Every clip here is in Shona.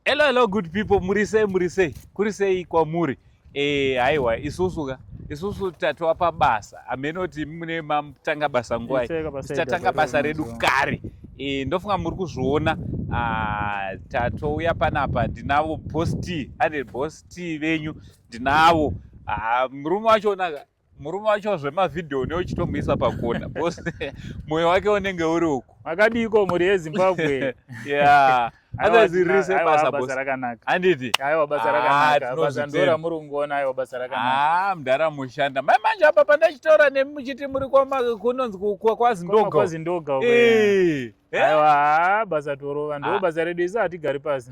Hello hello good people muri sei muri sei kuri sei kwamuri eh haiwa isusu ka isusu tatova pabasa hameno kuti mune matanga basa nguva tichatanga basa redu kare e, ndofunga muri kuzviona ah, tatouya panapa ndinavo bos t anded bos t venyu ndinavo ah, murume wacho onaka murume wacho zvemavhidhiyo une uchitomuisa pakona bcause mwoyo wake unenge uri uku makadiiko mhuri yezimbabwe yeah otherwise riri sebasa basa rakanaka handiti aiwa basa ah, rakanaka basa ndora muri kungoona aiwa basa rakanaka ah mdara mushanda mai manje apa pandachitaura nemi muchiti muri kunonzi kwazindoga kwazindoga eh. Eh? aiwa basa torova ndo ah. basa redu isu hatigari pasi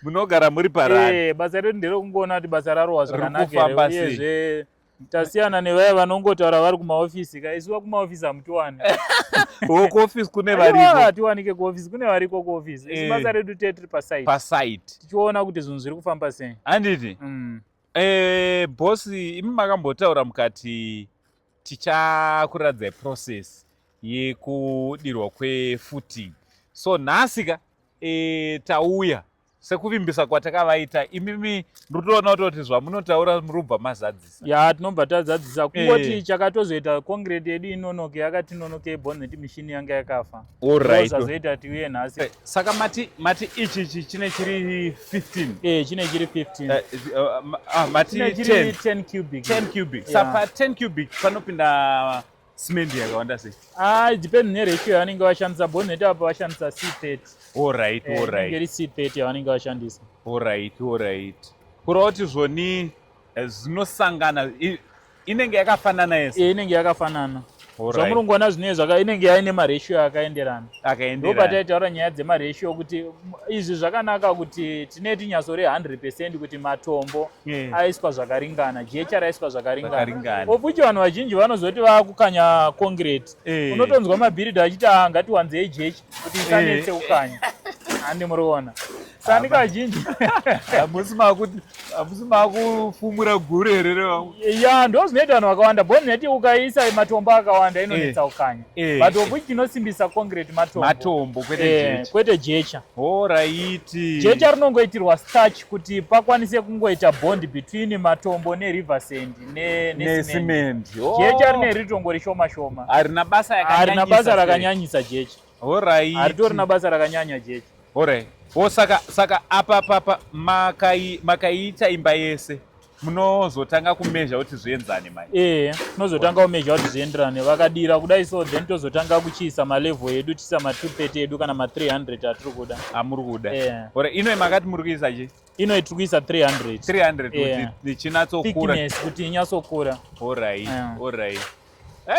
munogara muri parani eh, basa redu nderekungoona kuti basa rarohwa zvakanakuyezve tasiyana nevaya vanongotaura vari kumaofisi ka isu vakumaofisi hamutiwani kuofisi kune varikohatiwanike kuofisi kune variko kuofisi isu eh. basa redu te tiri pasite pasite tichiona kuti zvinhu zviri kufamba sei handiti mm. bosi imi makambotaura mukati tichakuradzai process yekudirwa kwefooting so nhasi ka e, tauya sekuvimbisa kwatakavaita imimi ndotoona kutoti zvamunotaura murubva mazadzisa ya tinobva tazadzisa kungoti e. chakatozoita concrete yedu inonoke yakati nonoke bhoneti mishini yanga yakafa zvazoita tiuye nhasi eh, saka mati mati ichi ichi chine chiri 15 eh chine chiri 15 eh, eh, ah, mati 10 10 cubic 10 cubic sapa 10 cubic panopinda simendi yakawanda sei ah depend ne ratio yavanenge vashandisa bone net apa vashandisa c30 all right all right ngeri c30 yavanenge vashandisa all right all right kurawo kuti zvoni zvinosangana inenge yakafanana yese e, inenge yakafanana zvamurungoona right. zvinee zvaka inenge yaine maratio akaenderana ndo pataitaura nyaya dzemaratio kuti izvi zvakanaka kuti tine tinyaso re 100 percent kuti matombo yeah. aiswa zvakaringana jecha raiswa zvakaringana of which vanhu vazhinji vanozoti vakukanya concrete hey. Eh. unotonzwa mabhiridha achiti ah, ngatiwanzei jechi kuti isanetse yeah. kukanya handi muri kuona sani kazhinji hamusi makuti hamusi makufumura guru here revangu ya ndo zvinoita vanhu vakawanda bo ndinoti ukaisa matombo akawanda inonetsa eh. ukanya eh. but of which tinosimbisa concrete matombo matombo kwete eh, jecha kwete jecha horaiti jecha rinongoitirwa starch kuti pakwanise kungoita bond between matombo neriver sand necement jecha oh. rine ritongo rishoma shoma harina basa rakanyanyisa jecha Horai. Haritori na basa rakanyanya jeje. Horai. Wo saka saka apa papa makai makaiita imba yese. Munozotanga kumezha kuti zvienzane mai. Eh, tinozotanga kumezha kuti zvienderane. Vakadira kudai so then tozotanga kuchiisa ma level edu tisa ma 230 edu kana ma 300 atiri kuda. Amuri kuda. Eh. Horai. Ino makati muri kuisa je? ino iri kuisa 300 300 yeah. kuti ichinatsokura thickness kuti inyatsokura orai yeah. orai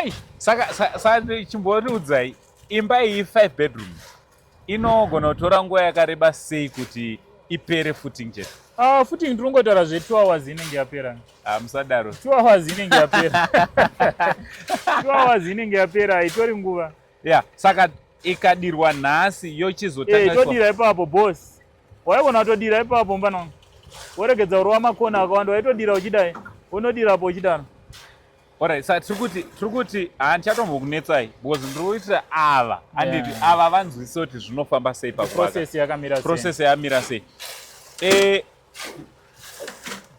ei saka sa chimbotiudzai imba iyi 5 bedroom inogona kutora nguva yakareba sei kuti ipere footing chete Ah, futi ndinongotaura zve two hours inenge yapera ah, musadaro two hours inenge yapera two hours inenge yapera haitori nguva ya saka ikadirwa nhasi yochizotodira eh, ipapo boss waivona watodira ipapo mfana wangu woregedza urova makona akawanda waitodira uchidai unodira apo uchidaro Alright, sa tiri kuti tiri kuti handichatombokunetsai because ndiri kuitira ava anditi yeah. ava vanzwisisa kuti zvinofamba sei paprocess yakamira process yamira sei eh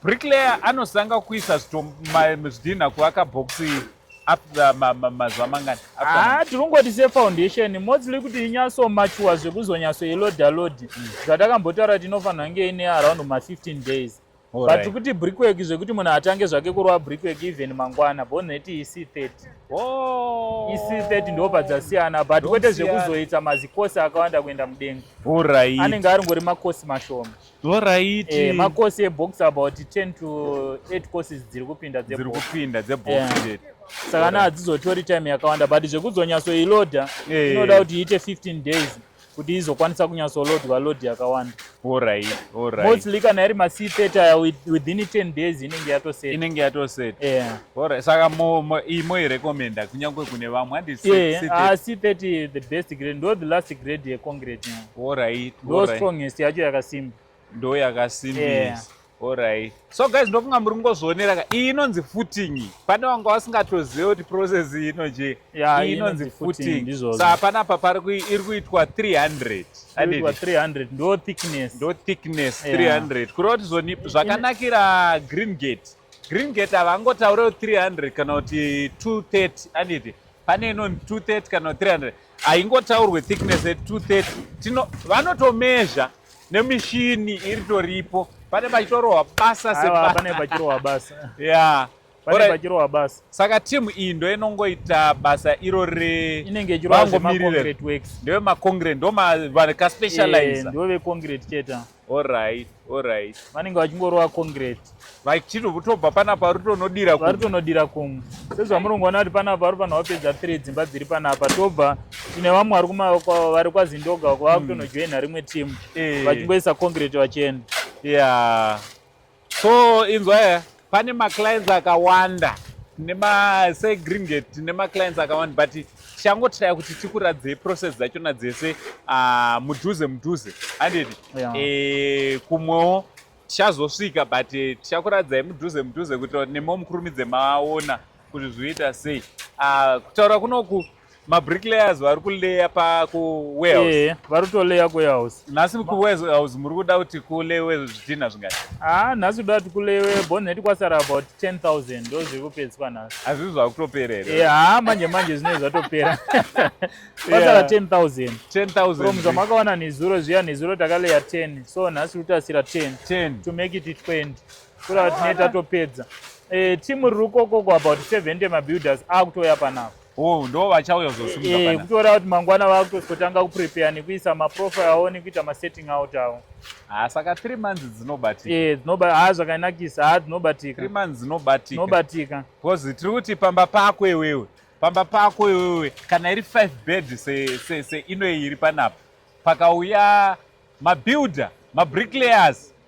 Bricklayer anosanga kuisa zvidhinha kuvaka bhokisi iri after mazuva mangani haa ah, tirungoti sefoundation mostly kuti inyatsomachuwa zvekuzonyatsoiloda lodi hmm. zvatakambotaura tinofanira kunge ine around ma15 days but kuti brickwork zvekuti munhu atange zvake kurova brickwork even mangwana boneti isi 30 isi 30 ndo padzasiyana but kwete zvekuzoita mazikosi akawanda kuenda mudenga anenge ari ngori makosi mashoma Alright. Eh, makosi ebox about 10 to 8 courses dziri kupinda dzebox. Dziri kupinda dzebox yeah. chete. Saka na hadzizotori time yakawanda but zvekuzonyatso iloader eh. inoda kuti iite 15 days kuti izokwanisa kunyatso loadwa load yakawanda. Alright, alright. Mostly kana iri ma C30 aya within 10 days inenge yatoset. Inenge yatoset. Yeah. Alright. Saka mo, mo imo i recommend kunyangwe kune vamwe handi yeah. C30. Ah, C30 the best grade ndo the last grade ye concrete. Yeah. Alright. Ndo strongest yacho yakasimba. Ndo yakasimbisa. Yeah. Alright. So guys ndofunga muri kungozvionera ka iyi inonzi footing. Pane wanga wasingatozive kuti process iyi inoje. Yeah, iyi inonzi footing. footing. So hapana apa pari kui iri kuitwa 300. Kuitwa 300 ndo thickness. Ndo thickness yeah. 300. Kureva kuti zvoni zvakanakira green gate. Green gate havangotaure 300 kana kuti 230 aniti. Pane inonzi 230 kana 300. haingotaurwe thickness at 230 tino vanotomezha nemishini iri toripo pane pachitorohwa basa sepane pachirohwa basa ya pane pachirohwa basa saka timu iyi ndo inongoita basa iro re inenge ichirohwa zvemaconcrete works ndevemacongre ndomavaspecialize eh, ndovecongret cheta Alright, alright. Vanenge vachingorova concrete. Vachito kutobva panapa vari tonodira kumwe. Vari tonodira kumwe. Sezvamurungu vana kuti panapa vari panapa pedza three dzimba dziri panapa tobva tine vamwe vari kuma vari kwaZindoga vava hmm. kutonojoina rimwe team. Eh. Vachingoisa concrete vachienda. Yeah. so inzwa eh, pane maclients akawanda segreenget tine maclients akawanda but tichangotaya kuti tikuradzei process dzachona dzese ah, mudhuze mudhuze handiti eh, kumwewo tichazosvika but eh, tichakuradzai mudhuze mudhuze kuitira kuti nemo mukurumidze maona kuti zvoita sei ah, kutaura kunoku uh, mabricklayers vari kuleya pakuwarehouse yeah, vari kutoleya kuwarehouse nhasi kuwarehouse muri kuda kuti kulewe zvidhina zvingati ah nhasi kuda kuti kulewe bonnet kwasara about 10000 ndo zviri kupedziswa nhasi hazvii zvakutopera here yeah, haa manje manje zvinenge zvatopera kwasara 10000 10000 from zvamakawana nezuro zviya nezuro takaleya 10 so nhasi kutasira 10 10 to make it 20 kura tinee tatopedza eh, team riri kokoko about 70 mabuilders akutoya panapo Oh, ndo vachauya kuzosumuka eh, kutora kuti mangwana vakutozotanga kuprepare nekuisa maprofile awo nekuita masetting out awo ha ah, saka three months dzinobatika e eh, dzinoba ha ah, zvakanakisa ha ah, dzinobatika three months dzinobatika dzinobatika because tiri kuti pamba pako iwewe pamba pako iwewe kana iri five bed se, se, se inoyi iri panapa pakauya mabuilder mabricklayers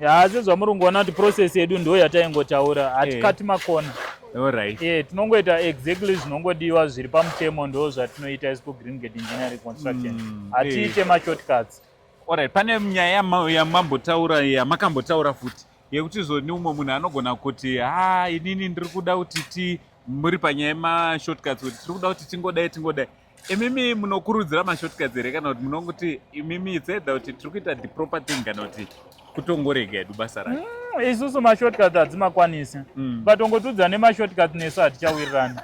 ya sezvamurungu ona kuti process yedu ndo yataingotaura hatikati eh. makona Alright. Yeah, tinongoita exactly zvinongodiwa zviri pamutemo ndo zvatinoita isu kugreen gate engineering construction mm, hatiite mm, yeah. mashortcuts Alright, pane nyaya yamambotaura yamakambotaura futi yekuti zvoni umwe munhu anogona kuti ha inini ndiri kuda kuti ti muri panyaya yemashortcuts kuti tiri kuda kuti tingodai tingodai Imimi munokurudzira mashortcuts here kana kuti munonguti imimi it's either kuti tiri kuita the proper thing kana kuti kutongorega edu basa racho? Mm, isusu mashortcuts hadzimakwanisi. Mm. But ongotudza nemashortcuts nesu hatichawirirani.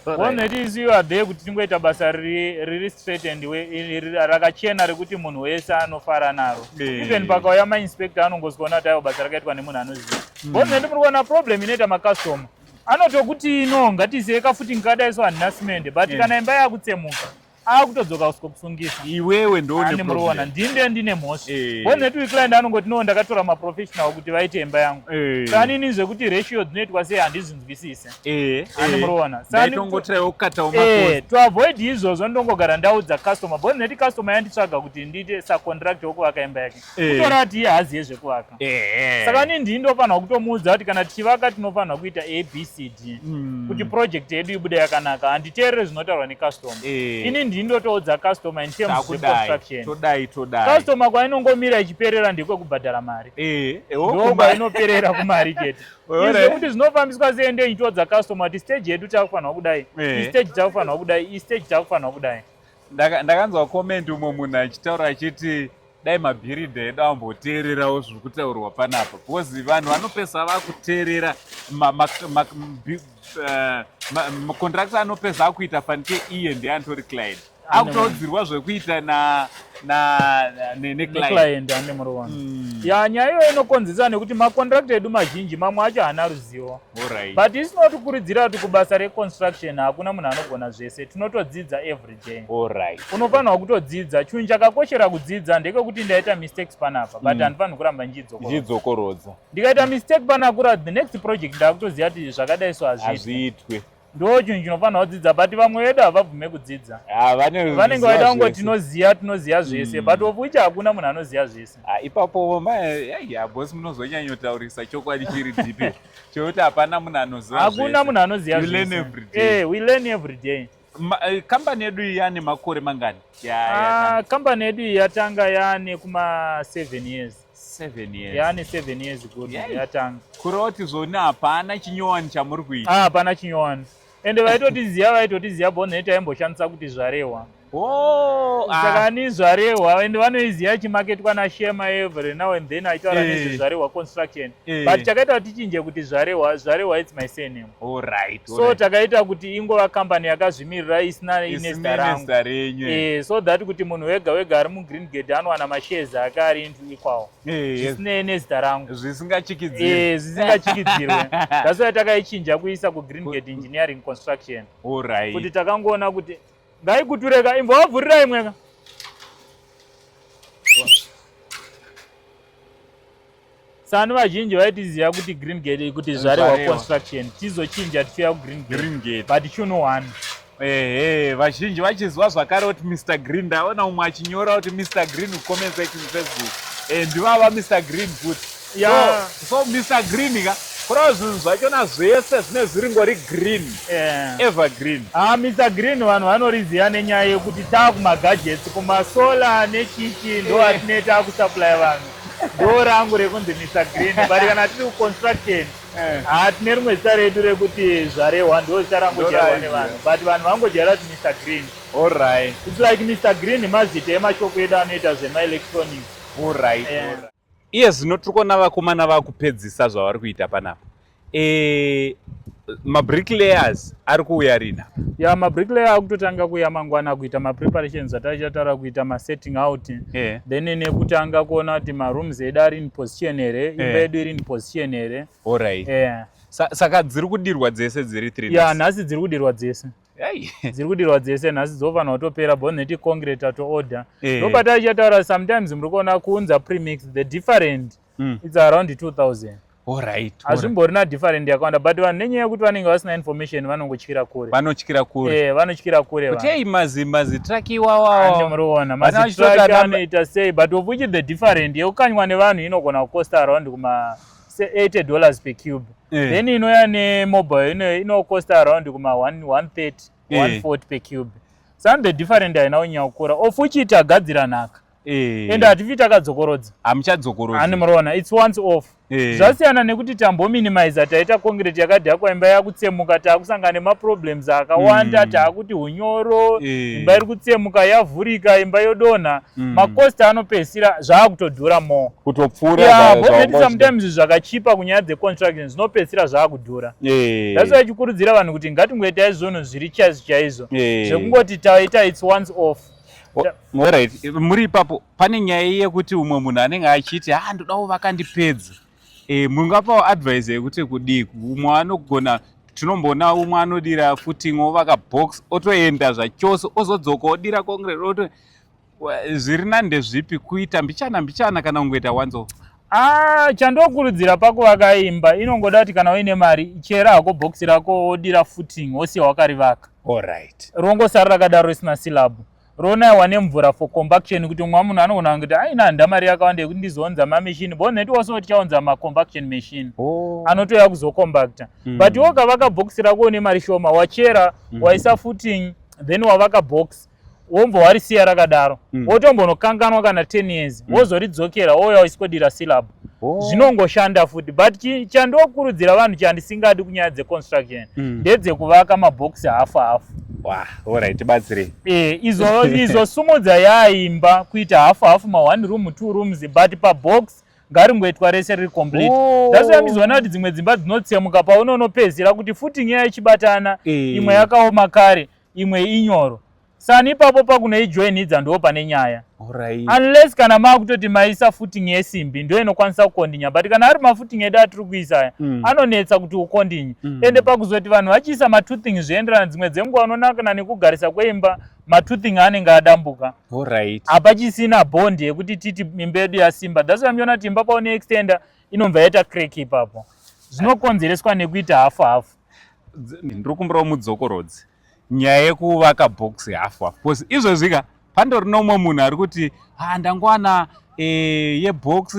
One that is you are there kuti tingoita basa riri riri straight and we rakachena rekuti munhu wese anofara naro. Yeah. Even pakauya ma inspector anongozwa kuti ayo basa rakaitwa nemunhu anoziva. Mm. One that muri kuona problem inoita ma customer. anotokuti no ngatizive kafuti ngikadai so handina simende but yeah. kana imba yakutsemuka akutodzoka usko kusungisa iwewe ndonemuroona ndinde ndine mhosva eh. wonheti uyu client anongoti no ndakatora maprofessional kuti vaite imba yangu eh. sanini zvekuti ratio dzinoitwa sei handizvinzwisise eh, animuroona toavoid izvozvo ndongogara ndaudza customer bonheti customer yanditsvaga kuti ndiite sacontract wokuvaka imba yake Eh. kutora kuti iye haazive zvekuvaka eh. saka ni ndii ndofanirwa kutomuudza kuti kana tichivaka tinofanirwa kuita abcd hmm. kuti project yedu ibude yakanaka handiteerere zvinotaurwa necustomer eh. ini ndii ndotoudza customer in terms of construction todai todai customer kwainongomira ichiperera ndekwekubhadhara mari ndo kwainoperera kumari chete izvo kuti zvinofambiswa sei ndei ndoudza customer kuti stage yedu takufanirwa kudai istage takufanirwa kudai istage takufanirwa kudai ndakanzwa comment umwe munhu achitaura achiti dai mabhiridha edu amboteererawo zviri kutaurwa panapa because vanhu vanopesa vakuteerera macontractor eh, anopesa akuita fanike iye ndiye antori client akutaudzirwa zvekuita neclient ane murowana hmm. ya nyaya iyoyo inokonzesa nekuti macontractor edu mazhinji mamwe acho haana ruzivo but isinotikuridzira kuti kubasa reconstruction hakuna munhu anogona zvese tinotodzidza every Alright. Unofanirwa kutodzidza. Chinhu chakakoshera kudzidza ndekekuti ndaita mistakes panapa but mm. handifanirwi mm. kuramba ndichidzokorodza. Ndikaita mistake panakura the next project ndakutoziva kuti zvakadai so hazviitwe. Ndo chinhu chinofanirwa kudzidza but vamwe vedu havabvume kudzidza. Ah, Vanenge vaida kungo tinoziva tinoziva zvese mm. but of which hakuna munhu anoziva zvese. Ah, ipapo boss munozonyanyotaurisa chokwadi chiri deep chokuti hapana munhu anoziva zvese. Hakuna munhu anoziva zvese. You learn every day. Eh, we learn every day. Eh, kambani yedu iyi yane makore mangani ah, kambani yedu iyi yatanga yane kuma 7 years yaane 7 years good yatanga kureva kuti zvoni hapana chinyowani chamuri kuita ah, hapana chinyowani ende vaitotiziva vaitotiziva bonhe taimboshandisa kuti zvarehwa oh, ah. saka ni zvarehwa ende vanoiziva chimaketwa nashema every now and then aitaura eh. nezvezvarehwa construction eh. but chakaita kuti tichinje kuti zvarehwa zvarehwa its my surname Alright, so alright. takaita kuti ingova company yakazvimirira isina inesta rangu e, so that kuti munhu wega wega ari mugreen gate anowana mashares ake ari into equal eh, zvisinei nezita rangu zvisingachikidzirwe eh, that's why takaichinja kuisa kugreen gate engineering construction Alright. kuti takangoona kuti ngaikutureka imbo wavhurira imweka sani vazhinji vaitiziva kuti green gate ikuti zvarewa construction tizochinja tichiuya kugreen green gate but chuno one ehe vazhinji vachiziva zvakare kuti mr green ndaona umwe achinyora kuti mr green kucomment section facebook eh, ndivava mr green futi yeah. so, so mr green ka kurava zvinhu zvachona zvese zvine zviri ngori green yeah. ever green ha ah, mr green vanhu vanoriziva nenyaya yekuti taakumagadgets kumasolar nechiki ndo eh. atinee taakusupply vanhu Ndoo rangu rekunzi Mr Green but kana tiri kuconstruction eh. haa tine rimwe zita redu rekuti zvarehwa ndoo zita rangojairwa nevanhu but vanhu vangojaira kuti Mr Green alright it's like Mr Green mazita emashoko edu anoita zvemaelectronic alright eh. iye zvino tiri kuona vakomana vakupedzisa zvavari kuita panapa Eh, mabricklayers ari kuuya rina ya mabricklayers ari kutotanga kuuya mangwana kuita mapreparations ataichataura kuita masetting out yeah. then nekutanga kuona kuti marooms edu ari in position here imba yeah. yedu iri in position here orit yeah. Sa saka dziri kudirwa dzese dziri three ya nhasi dziri kudirwa dzese dziri kudirwa dzese nhasi dzofanira kutopera bo neti concrete ato order eh. ndopataichataura sometimes muri kuona kuunza premix the different yeah. mm. its around 2000 Alright. Hazvimborina different yakawanda but vanhu nenyaya yekuti vanenge vasina information vanongotyira kure. Vanotyira kure. Eh, vanotyira kure vanhu. Kutei mazi mazi track iwawa. Ande muriona mazi track anoita sei but of which the different yekukanywa nevanhu inogona kukosta around kuma 80 dollars per cube. Eh. Then inouya ne mobile ino inokosta around kuma 130 140 eh. per cube. Some the different haina kunyanya kukura of which itagadzira nhaka. Eh. ende hatifi takadzokorodza hamuchadzokorodza ani murona its once off eh. zvasiyana nekuti tambominimiza taita concrete yakadhakwa imba yakutsemuka taakusangana nemaproblems akawanda mm. taakuti unyoro eh. imba iri kutsemuka yavhurika imba yodonha mm. macost anopedzisira zvaakutodhura more kutopfuurabhometi sometimes zvakachipa kunyaya dzeconstruction zvinopedzisira zvaakudhura that's why chikurudzira vanhu kuti ngatingoitai zvunhu zviri chaizvo chaizvo zvekungoti taita its once off Alright, muri ipapo pane nyaya yekuti umwe munhu anenge achiti ha ah, ndoda kuvaka ndipedza e, eh, mungapawo advise yekuti kudii umwe anogona tinomboona umwe anodira footing ovaka box otoenda zvachose ozodzoka odira concrete oto zviri nande zvipi kuita mbichana mbichana kana kungoita once off Ah, chandokurudzira pakuvaka imba inongoda kuti kana uine mari chera hako bhokisi rako wodira footing wosiya wakarivaka Alright. rongosara rakadaro risina silabu ronaiwa nemvura for compaction kuti mumwe munhu anogona kuti aina handa mari yakawanda yekuti ndizounza mamachine bo neti wose kuti chaunza macompaction machine Oh. anotouya kuzocompacta Mm. but iwe ukavaka bhokisi rako une mari shoma wachera Mm. waisa footing then wavaka box wombo warisiya rakadaro mm. wotombonokanganwa kana ten years mm. wozoridzokera wouya uchiskodira syllab oh. zvinongoshanda futi but chandokurudzira vanhu chandisingadi kunyaya dzeconstruction mm. ndedzekuvaka maboxi hafu hafu orit batsirei e, izo, izo sumudza yaimba kuita hafu hafu ma one room two rooms but pabox ngaringoitwa rese riri complete oh. that's why mizoona kuti dzimwe dzimba dzinotsemuka paunonopedzera kuti futi nyaya ichibatana eh. imwe yakaoma kare imwe inyoro sani ipapo pakunoijoinhidza ndo pane nyaya right. unless kana maakutoti maisa footing yesimbi ndo inokwanisa kukondinya but kana ari mafooting edu atiri kuisa aya mm. anonetsa kuti ukondinye mm. ende pakuzoti vanhu vachiisa matoothing zvienderana dzimwe dzenguva unonakana nekugarisa kweimba matoothing anenge adambuka right. hapachisina bond yekuti titi imba yedu yasimba thats why mchiona kuti imba paune extender inobva yaita crack ipapo zvinokonzereswa nekuita hafu hafu ndiri kumbirawo mudzokorodzi nyaya yekuvaka box half half because izvezvi ka pandori nomwe munhu ari kuti ha ndangowana e, eh, yebox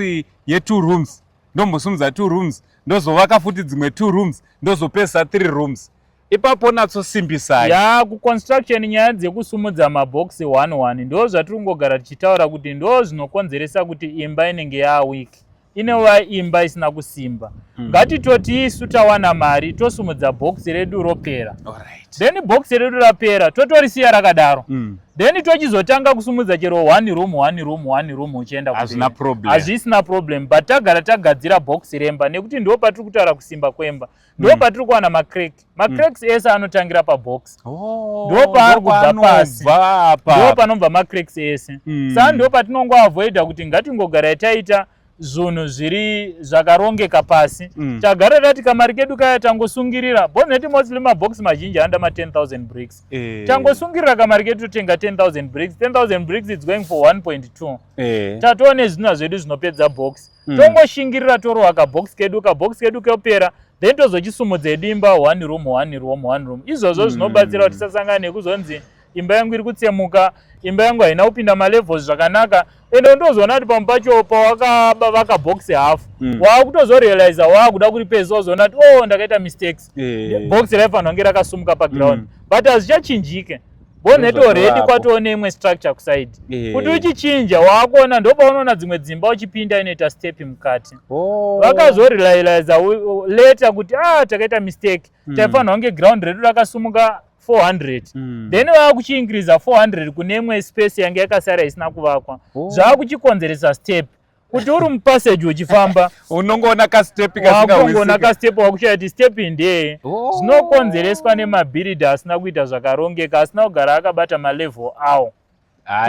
yetwo rooms ndombosumudza two rooms ndozovaka futi dzimwe two rooms ndozopedzisa three rooms ipapo natsosimbisai ya kuconstruction nyaya dzekusumudza mabox one one ndo zvatiri kungogara tichitaura kuti ndo zvinokonzeresa kuti imba inenge yaawiki inova imba isina kusimba mm. ngatitoti isu tawana mari tosumudza bhokisi redu ropera right. then bhokisi redu rapera totorisiya rakadaro mm. then tochizotanga kusumudza chero one room one room one room uchienda hazvina problem hazvisina problem but tagara tagadzira bhokisi remba nekuti ndo patiri kutaura kusimba kwemba ndo mm. patiri kuwana macrack macracks mm. ese anotangira pabox oh, ndo paari kubva pasi ndo panobva macracks ese mm. saa ndo patinongoavoida kuti ngatingogarai taita zvunhu zviri zvakarongeka pasi mm. tagara tati kamari kedu kaya tangosungirira boneti mostly mabox mazhinji anoda ma 10000 bricks eh. tangosungirira kamari kedu totenga 10000 bricks 10000 bricks its going for 1.2 eh. tatoone zvinhu zvedu zvinopedza box mm. tongoshingirira torohwa kabox kedu kabox kedu kepera then tozochisumudza edu imba one room one room one room izvozvo mm. zvinobatsira kuti tisasangana nekuzonzi imba yangu iri kutsemuka imba yangu haina kupinda malevels zvakanaka ende undozoona kuti pamwe pacho pawakavaka box half mm. waakutozorealiza waakuda kuri pezi wazoona kuti o oh, ndakaita mistakes yeah. box raifanira kunge rakasumuka paground mm. but hazvichachinjike bonnet already kwatoo neimwe structure kuside eh. kuti uchichinja waakuona ndopaunoona dzimwe dzimba uchipinda inoita step mukati oh. vakazorelailiza leta kuti ah takaita mistake mm. taifanirwa kunge ground redu rakasumuka 400 mm. then vaakuchiinkiriza 400 kune imwe space yange yakasara isina kuvakwa oh. zvaakuchikonzeresa step kuti uri mupassage uchifamba unongoona kastepunongoona kastepu wakushaya kuti stepi ndeye oh. zvinokonzereswa nemabhiridhi asina kuita zvakarongeka asina kugara akabata malevel awo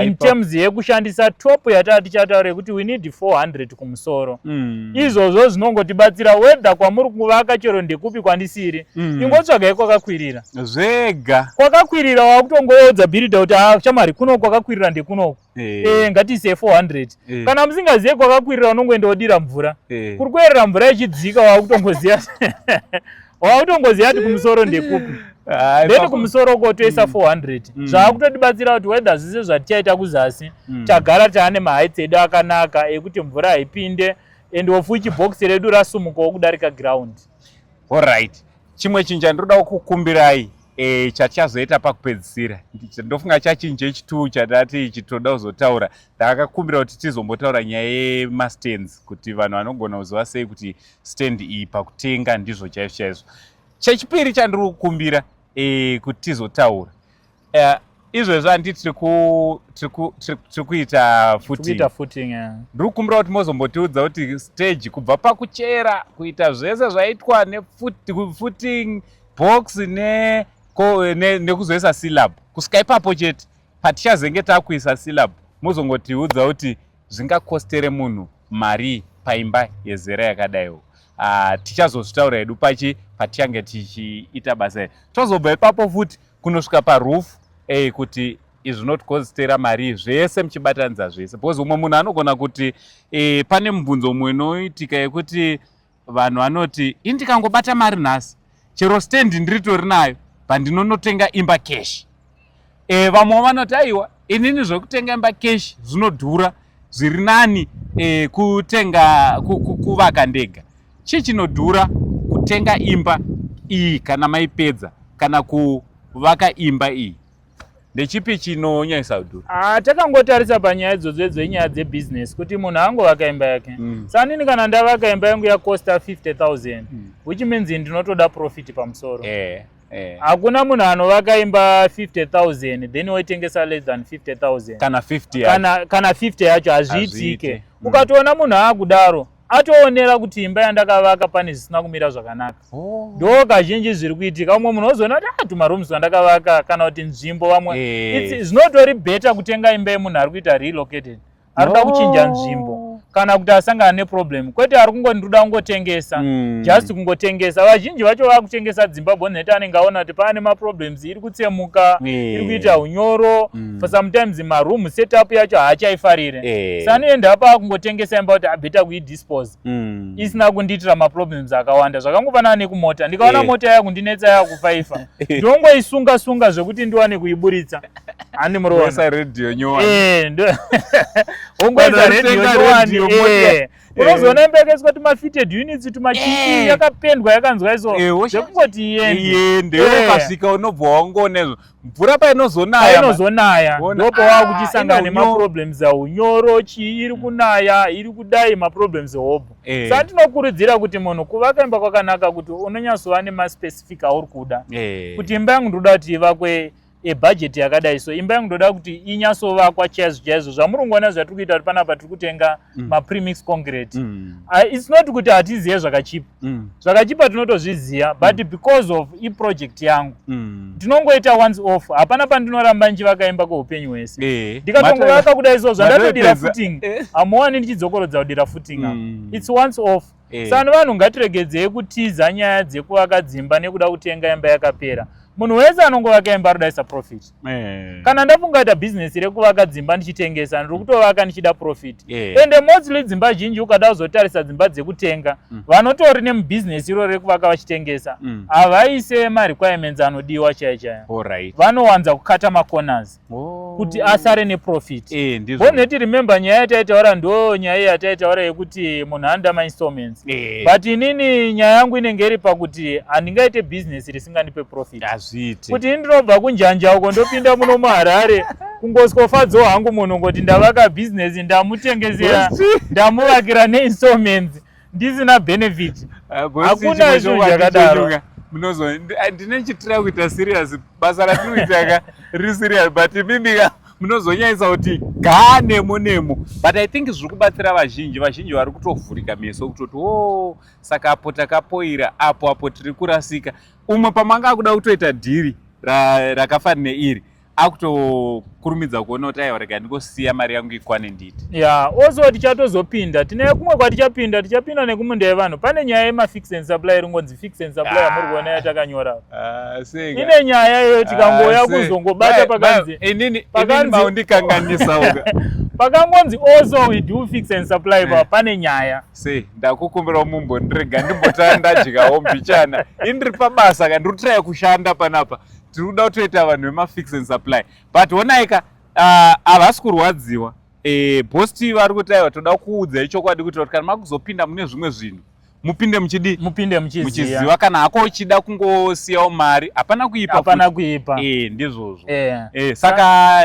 in terms yekushandisa top yataa tichataura yekuti we need 400 kumusoro mm. izvozvo zvinongotibatsira wedha kwamuri kuvaka chero ndekupi kwandisiri mm. ingotsvagai kwakakwirira zvega kwakakwirira wakutongoodza bhiridha kuti ah, shamwari kuno kwakakwirira ndekunoku eh. eh, ngatiise 400 eh. kana musingazive kwakakwirira unongoenda wodira mvura eh. kuri kuerera mvura ichidzika waakutongoziva waakutongoziva kuti kumusoro ndekupi then kumusoro uko toisa 400 mm. mm. zvaakutotibatsira kuti wether zvise zvatichaita kuzasi mm. tagara taane mahaits edu akanaka ekuti mvura haipinde and wofuchi box redu rasumukawo kudarika ground Horaiti, chimwe chinhu chandinoda kukukumbirai e, chatichazoita pakupedzisira ndofunga chachinja ichi two chatati ichi tinoda kuzotaura ndakakumbira kuti tizombotaura nyaya yemastands kuti vanhu vanogona kuziva sei kuti stand iyi pakutenga ndizvo chaizvo chaizvo chechipiri chandiri kukumbira e, kuti tizotaura Eh, izvezvi handi tiri ku- tiri ku- tiri- tiri kuita futi Kuita footing. eh. ndiri kukumbira kuti mozombotiudza kuti stage kubva pakuchera kuita zvese zvaitwa nefuti- footing box ne- ko- ne- nekuzoisa syllab kusvika ipapo chete patichazenge takuisa syllab mozongotiudza kuti zvingakostere munhu marii paimba yezera yakadaiwo ah, tichazozvitaura hedu pachi patichange tichiita basa iri tozobva ipapo futi kunosvika parufu ey kuti izvi zvinotikodzitera mari zvese muchibatanidza zvese because umwe munhu anogona kuti e, pane mubvunzo umwe unoitika yekuti vanhu vanoti ini ndikangobata mari nhasi chero stand ndiritori nayo pandinonotenga imba cash e, vamwe vanoti aiwa inini zvekutenga imba cash zvinodhura zviri nani e, kutenga kuvaka ndega chii chinodhura kutenga imba iyi kana maipedza kana kuvaka imba iyi ndechipi chinonyanyisa kudhura ah, takangotarisa panyaya idzodzo idzo inyaya dzebusiness kuti munhu angovaka imba yake mm. sanini kana ndavaka imba yangu yakosta 50 000 mm. which means ndinotoda profit pamusoro eh, eh. hakuna eh. munhu anovaka imba 50 000 then woitengesa less than 50 000 kana 50 yacho hazviitike mm. ukatoona munhu aakudaro atoonera kuti imba yandakavaka pane zvisina kumira zvakanaka oh. ndo kazhinji zviri kuitika umwe munhu ozoona kuti ah, tumarooms twandakavaka kana kuti nzvimbo vamwe eh. zvinotori better kutenga imba yemunhu ari kuita relocated ari kuda kuchinja nzvimbo kana kuti asangana neproblem kwete ari kungondiruda kungotengesa hmm. just kungotengesa vazhinji vacho vakutengesa dzimba boneta anenge aona kuti paane maproblem misodzi iri kutsemuka eh. iri kuita unyoro mm. for sometimes maroom setup yacho haachaifarire eh. sanoenda apa akungotengesa imba kuti abeta kuidispose mm. isina kundiitira maproblems akawanda zvakangofanana nekumota ndikaona eh. mota yaya kundinetsa yaya kufaifa ndongoisunga sunga zvekuti ndiwane kuiburitsa handi muroona radio nyowani ongoisa radio nyowani Eh. unozoona imba yakaiswa tumafitted units tumachii eh. yakapendwa yakanzwa iso eh, zvekungoti iende ukasvika unobva wangonezvo mvura painozonaya inozonaya ndopo wava kuchisangana ah, nemaproblems aunyoro chii iri mm. kunaya iri kudai maproblems hobho sa tinokurudzira kuti munhu kuvaka imba kwakanaka kuti unonyatsova nemaspecific auri kuda kuti imba yangu ndoda kuti ivakwe ebhajeti yakadai so imba yangu ndoda kuti inyasovakwa chaizvo chaizvo zvamuri kungoona zvatiri kuita kuti panapa tiri kutenga mm. mapremix concrete mm. uh, its not kuti hatizive zvakachipa mm. zvakachipa tinotozviziva but mm. because of iproject yangu mm. tinongoita once off hapana pandinoramba ndichivaka imba kweupenyu hwese eh. ndikatongovaka kuda izvo zvandatodira footing eh. hamuwani ndichidzokorodza kudira footing mm. its once off Eh. Sani vanhu ngatiregedzei kutiza nyaya dzekuvaka dzimba nekuda kutenga imba yakapera. Munhu wese anongovaka imba anodaisa profit. Eh. Kana ndafungaita business rekuvaka dzimba ndichitengesa ndiri kutovaka ndichida profit. Eh. Ende mostly dzimba zhinji ukada kuzotarisa dzimba dzekutenga mm. vanotori nemubusiness iro rekuvaka vachitengesa mm. havaise marequirements anodiwa chaya chaya. Vanowanza kukata macorners. oh. kuti asare neprofit e, boneti remember nyaya yataitaura ndo nyaya yataitaura yekuti munhu andama installments e. but inini nyaya yangu inenge iri pakuti handingaite business risingandipe profit hazviiti kuti ini ndinobva kunjanja uko ndopinda muno muharare kungoswofadzawo hangu munhu ngoti ndavaka business ndamutengezera ndamuvakira neinstallments ndisina benefit ah, hakuna izvo zvakadaro munozo ah, ndinechitira kuita serious basa ratinoitaka riri serious but imimika munozonyanyisa kuti ga nemo nemo but i think zviri kubatsira vazhinji vazhinji vari kutovhurika meso kutoti o oh, saka apo takapoira apo apo tiri kurasika umwe pamanga akuda kutoita dhiri rakafanira iri akutokurumidza kuona kuti aiwa rega ndingosiya mari yangu ikwane nditi ya yeah, also tichatozopinda tine kumwe kwatichapinda tichapinda nekumunda yevanhu pane nyaya yemafix and supply ringonzi fix and supply yamuri ah. kuona yatakanyora ah, ine nyaya iyoyo ah, tikangouya kuzongobata pakanzi pakangonzi also we do fix and supply eh. pa pane nyaya se ndakukumbirawo mumbondirega ndimbotandadyawo mbichana indiri pabasa kandiri kutraya kushanda panapa tiri kuda kutoita vanhu vemafix and supply but honai ka ah, havasi kurwadziwa eh, bosti vari kuti aiwa toda kuudza ichokwadi kuitira kuti kana makuzopinda mune zvimwe zvinhu mupinde muchidi mupinde muchiziva muchiziva kana hako uchida kungosiyawo mari hapana kuipa hapana futi. kuipa eh, ndizvozvo Eh. eh, saka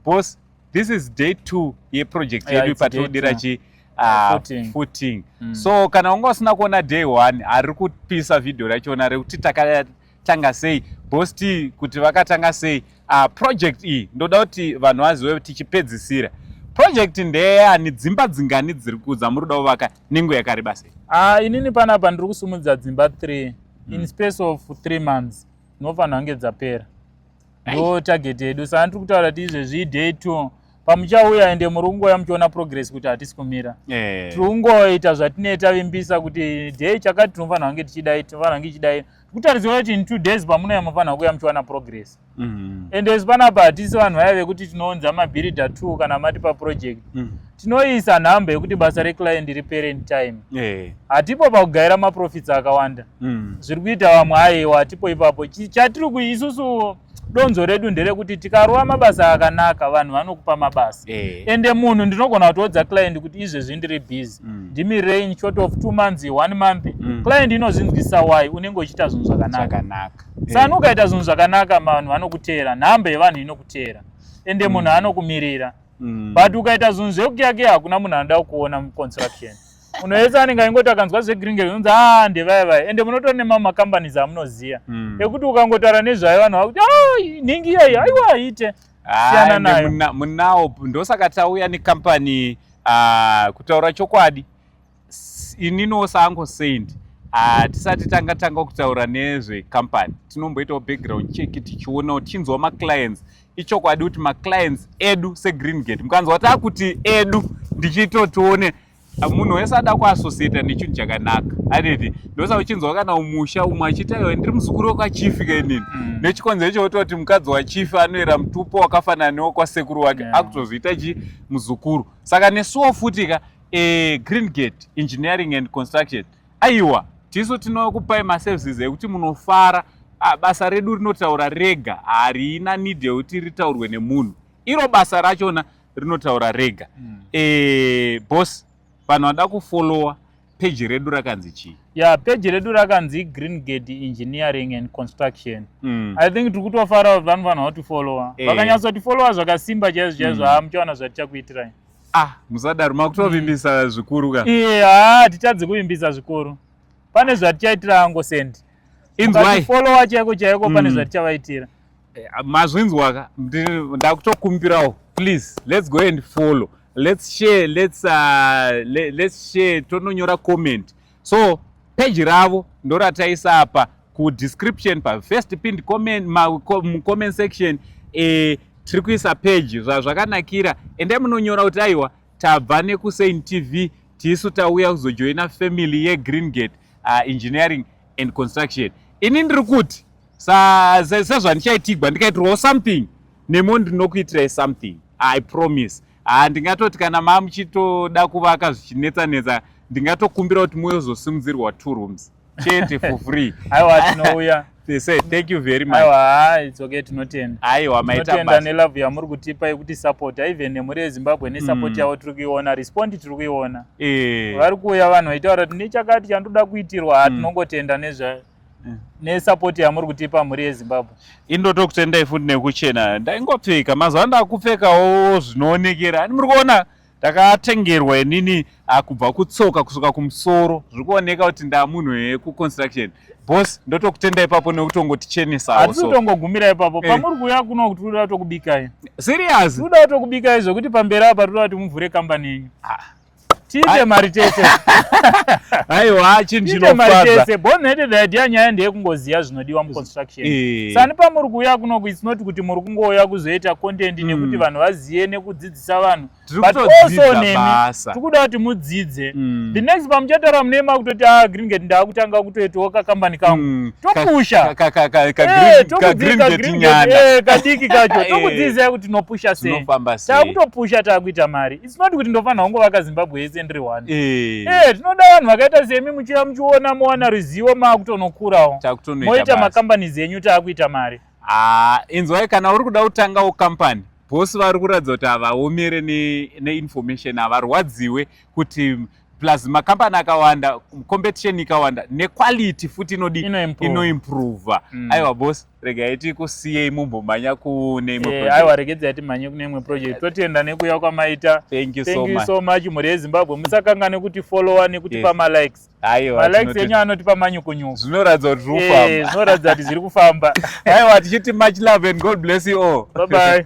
boss this is day two yeproject Yeah, yedu it's day patodira two. chi ah, Footing. footing Mm. so kana unga usina kuona day one ari kupisa vhidhiyo rachona rekuti taka vakatanga sei boss t kuti vakatanga sei uh, project iyi ndoda kuti vanhu vazive tichipedzisira project ndeyani dzimba dzingani dziri kudza muri kuda kuvaka nengo yakareba sei uh, inini panapa ndiri kusumudza dzimba three mm. in hmm. space of three months ndinofanira kunge dzapera ndo target yedu saka ndiri kutaura kuti izvezvi iday two pamuchauya ende muri kungoya muchiona progress kuti hatisi kumira eh. tiri kungoita zvatinee tavimbisa kuti day chakati tinofanira kunge tichidai tinofanira kunge ichidai kutarisira kuti in two days pamunouya mufanira kuuya muchiwana progress mm. and as panapa hatisi vanhu vaya vekuti tinounza mabhirida two kana mati paproject mm. tinoisa nhamba yekuti basa reclient ripere in time eh. hatipo yeah. pakugaira maprofits akawanda mm. zviri kuita vamwe aiwa hatipo ipapo chatiri kuisusuwo donzo redu nderekuti tikarova mabasa akanaka vanhu vanokupa mabasa eh. ende munhu ndinogona kutoudza client kuti izvezvi ndiri busy mm. ndimirei in short of two months one month mm. client inozvinzwisa why unenge uchiita zvinhu zvakanaka eh. sana ukaita zvinhu zvakanaka vanhu vanokuteera nhamba yevanhu inokuteera ende mm. munhu anokumirira mm. but ukaita zvinhu zvekukiyakiya hakuna munhu anoda kukuona muconstruction unoyetsa anenge aingoti akanzwa zvegringe unzi a ah, ndevaya vaya ende munotori nemamwe macompanies amunoziva hmm. ekuti ukangotara nezvayo vanhu vakuti ah, nhingi iyeyi aiwa aite siyana nayo munawo ndosaka tauya necompany ah, kutaura chokwadi ininiwo saango saint hatisati tanga tanga kutaura nezvecompany tinomboitawo background check tichionawo tichinzwa maclients ichokwadi kuti maclients edu segreen gate mukanzwa takuti edu ndichiito tione munhu wese ada kuassociata nechinhu chakanaka aniti ndosa uchinzwa kana umusha umwe achiita iwe ndiri muzukuru wekwachifi kainini mm. nechikonzero icho wototi mukadzi wachifi anoera mutupo wakafanana newekwasekuru wake yeah. akutozoita chi muzukuru saka nesuwo futi ka e, green gate engineering and construction aiwa tisu tinokupai maservices ekuti munofara ah, basa redu rinotaura rega harina need yekuti ritaurwe nemunhu iro basa rachona rinotaura rega mm. e, boss vanhu vada kufollowa peji redu rakanzi chii ya yeah, peji redu rakanzi green gate engineering and construction mm. i think tiri kutofara kuti vanhu vanhu vatifollowa eh. vakanyatsa kutifollowa zvakasimba chaizvo chaizvo mm. haa muchaona zvatichakuitirai ah musadaro makutovimbisa mm. zvikuru ka iye haa hatitadzi kuvimbisa zvikuru pane zvatichaitira angosendi inzwai followa chaiko chaiko pane mm. zvatichavaitira Eh, mazvinzwaka ndakutokumbirawo please let's go and follow let's share let's, uh, let, let's share tononyora comment so peji ravo ndorataisa apa kudescription pafirst pinned comment mucomment section eh, tiri kuisa peji zvazvakanakira endai munonyora kuti aiwa tabva nekusain tv tisu tauya kuzojoina family yegreen gate uh, engineering and construction ini ndiri kuti sezvandichaitigwa ndikaitirwawo something nemo ndinokuitirai something i promise haa ndingatoti kana maa muchitoda kuvaka zvichinetsa netsa ndingatokumbira kuti muyozosimudzirwa two rooms chete for free aiwa tinouya they say thank you very much aiwa haa it's okay tinotenda aiwa maitotenda nelove yamuri kutipa yekuti support even nemhuri yezimbabwe nesupport mm. yavo tiri kuiona respond tiri kuiona eh. vari kuuya vanhu vaitaura kuti nechakati chandoda kuitirwa haa mm. tinongotenda nezvayo mm. nesupport yamuri kutipa mhuri yezimbabwe indotokutendai futi nekuchena ndaingopfeka mazuva ano ndakupfekawo zvinoonekera ani muri kuona ndakatengerwa inini akubva ah, kutsoka kusuka kumusoro zviri kuoneka kuti ndamunhu wekuconstruction bos ndotokutenda ipapo nekutongotichenesaatitongogumira ipapo eh. pamuri kuuya kuno kuti toda kutokubikai serious toda kutokubikai zvekuti pamberi apa toda kuti muvhure kambani yenyu ah. tiite mari tese aiwa chinhu chinofadza born hated idea nyaya ndeyekungoziva zvinodiwa muconstruction eh. sani pamuri kuuya kunoku its not kuti muri kungouya kuzoita content hmm. nekuti vanhu vazive nekudzidzisa vanhu but also nemi tiri kuda kuti mudzidze hmm. the next pamuchataura mune makutoti a ah, gringate ndaakutanga kutoitawo kakambani kangu hmm. topusha eh, eh, kadiki kacho tokudzidzisai kuti tinopusha sei taakutopusha taakuita mari sinoti kuti ndofanira kungovaka zimbabwe yese ndiri one eh. eh, tinoda vanhu vakaita semi muchiva muchiona mowana ruzivo maakutonokurawo moita macompanies enyu taakuita mari ah, inzwai kana uri kuda kutangawo company bosi vari kuratidza kuti havaomere neinformation ne havarwadziwe kuti plus makambani akawanda competition ikawanda nequality futi inodii inoimprova mm. aiwa bosi regai tikusiyei mumbomhanya kune imwe eh, aiwa regedzai timhanye kune imwe project totienda nekuya kwamaita thank you so much mhuri yezimbabwe musakanganwe kuti followa nekutipa malikes malikes enyu anotipa manyukunyuku zvinoratidza kuti zviri kufamba eh, zvinoratidza kuti zviri kufamba aiwa tichiti much love and god bless you all bye bye